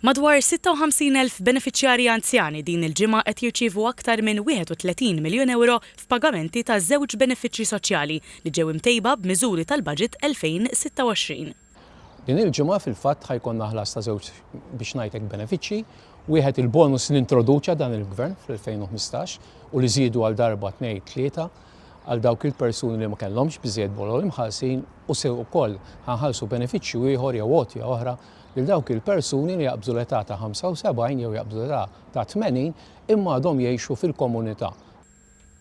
Madwar 56,000 benefiċjarji anzjani din il-ġimgħa qed jirċievu aktar minn 31 miljun ewro f'pagamenti ta' żewġ benefiċċji soċjali li ġew imtejba b'miżuri tal-Baġit 2026. Din il-ġimgħa fil-fatt ħa jkollna ħlas ta' żewġ biex ngħid hekk benefiċċji, wieħed il-bonus li introduċa dan il-Gvern fl-2015 u li żiedu għal darba, tnejn, tlieta għal dawk il-persuni li ma kellhomx biżżejjed bolol imħallsin u se wkoll ħa nħallsu benefiċċju ieħor jew għotja oħra lil dawk il-persuni li jaqbżu l-età ta' 75 jew jaqbżu l-età ta' 80 imma għadhom jgħixu fil-komunità.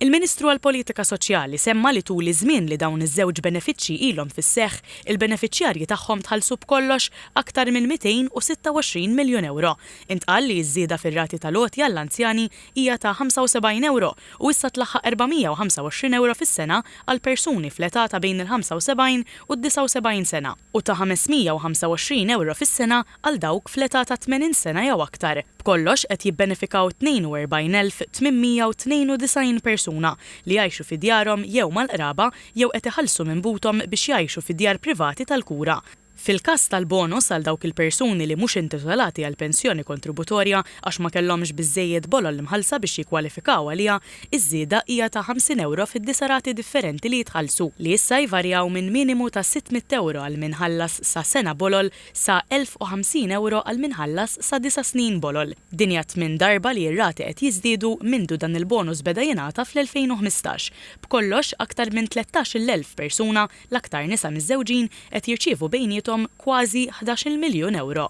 Il-Ministru għall-Politika Soċjali semma li tul iż-żmien li dawn iż-żewġ benefiċċji ilhom fis-seħħ, il-benefiċjarji tagħhom tħallsu b'kollox aktar minn 226 miljun ewro. Intqal li ż-żieda fir-rati tal-għoti għall-anzjani hija ta' 75 ewro u issa tlaħħaq 425 ewro fis-sena għall-persuni fl-età ta' bejn il-75 u d-79 sena. u ta' 525 ewro fis-sena għal dawk fl-età ta' 80 sena jew aktar. B'kollox qed jibbenefikaw 42,892 persuna li jgħixu fi djarhom jew mal-qraba jew qed iħallsu minn buthom biex jgħixu fi djar privati tal-kura. Fil-każ tal-bonus għal dawk il-persuni li mhux intitolati għal pensjoni kontributorja għax ma kellhomx biżżejjed bolol mħallsa biex jikkwalifikaw għaliha, Iż-żieda hija ta' 50 ewro fid-disa' rati differenti li jitħallsu, li issa jvarjaw minn minimu ta' 600 ewro għal min ħallas sa sena bolol sa 1,050 ewro għal min ħallas sa disa' snin bolol. Din hija t-tmien darba li r-rati qed jiżdiedu mindu dan il-bonus beda jingħata fl-2015. B'kollox, aktar minn 13-il elf persuna, l-aktar nisa miżżewġin, qed jirċievu bejniethom kważi ħdax-il miljun ewro.